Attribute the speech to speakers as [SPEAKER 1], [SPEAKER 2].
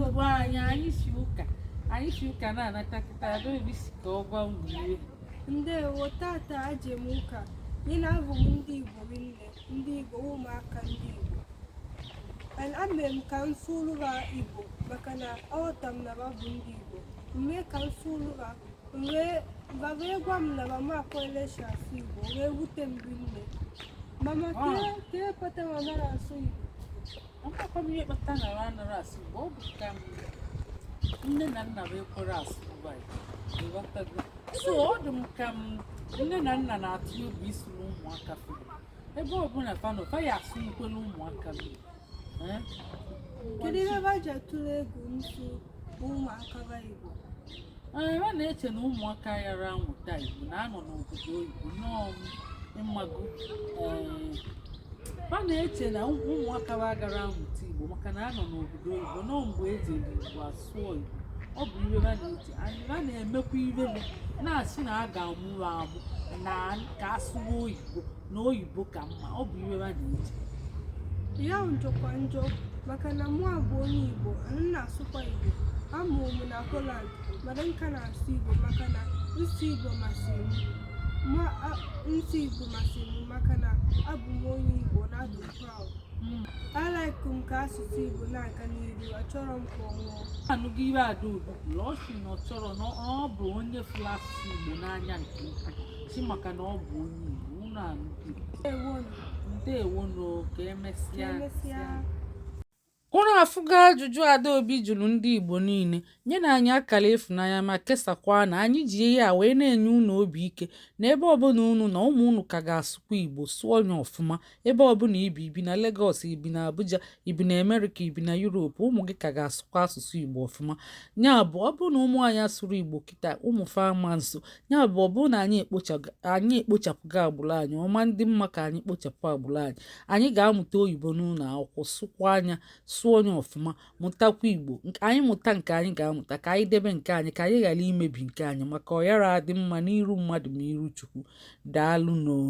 [SPEAKER 1] ọgwa anyị anyị si ụka anyị si ụka na-anata kịta adaobi si ka ọ gwa unu ihe
[SPEAKER 2] ndewo tata aje m ụka ya na afụ m ndị igbo nne ndị igbo ụmụaka ndị igbo and ame m ka m sụrụ ha igbo maka na aghọta m na ha bụ ndị igbo mee ka m sụrụ ha mgbe ba bịa gwa m na ba ama akwele si asụ igbo wee wute m rinne mama Ah. kee kee kpata ba amarọ asụ igbo amakwa
[SPEAKER 1] m ihe kpata na ha anara asụ igbo ọ bụ ka nne na nna ba ekwere asụ igbo ịghọtago so ọ dị m ka nne na nna na-atụ egwu ịsụrụ ụmụaka fa igbo ebe ọbụla fa nọ fa ya asụ nkwele ụmụaka fa igbo
[SPEAKER 2] Eh? kedu ihe ba ji atụrụ egwu nsụ ụmụaka ba igbo ba
[SPEAKER 1] na-eche na ụmụaka yara amụta Igbo na-anọ n'obodo oyibo nọọ ị mago ba na-eche na ụmụaka ba agara amụta Igbo maka na anọ n'obodo oyibo nọọ mgbe eji Igbo asụọ Igbo ọ bụ ihe ha na-eche ha na-emekwa ihe na-asị na a ga-amụrụ amụ na ka asụwa oyibo na oyibo ka mma ọ bụ ihe ba na-eche
[SPEAKER 2] ya jọkwa njọ maka na mụa bụ onye igbo ana m asụkwa igbo amụrụ m na holland mana m ka na-asụ igbo maka na nsụ igbo masịrị m ma a- nsụ igbo masịrị m maka na abụ m onye igbo na adị m proud alaịkụ m ka asụsụ igbo na-aga n'iru achọrọ m ka ọ nwụọ anụgo ihe adaobi
[SPEAKER 1] kwuru ọ sị na ọ chọrọ na ọ bụ onye fụrụ asụsụ igbo n'anya nke ukwuu si maka na ọ bụ onye Igbo unu anụgo ndewonu ka emesịa unu afụgo ajụjụ adaobi jụrụ ndị igbo niile nyenụ anyị akara ịfụnanya ma kesakwa na anyị ji ihe a wee na-enye unu obi ike na ebe ọbụla unu nọ ụmụ unu ka ga-asụkwa igbo sụọ ya ọfụma Ebe ọ bụla i bi i bi na Lagos, i bi na Abuja, i bi na America, i bi na Europe, ụmụ gị ka ga-asụkwa asụsụ Igbo ọfụma. Ya bụ ọ bụrụ na ụmụ anyị asụrọ Igbo kịta ụmụ fa ama nsụ. Ya bụ ọ bụrụ na anyị ekpochapụgo agbụrụ anyị ọ ma ndị mma ka anyị kpochapụ agbụrụ anyị anyị ga-amụta oyibo n'ụlọ akwụkwọ sụkwaa nya sụọ nya ọfụma mụtakwa Igbo anyị mụta nke anyị ga-amụta ka anyị debe nke anyị ka anyị ghara imebi nke anyị maka ọ yara adị mma n'iru mmadụ ma iru Chukwu. Daalụ noo.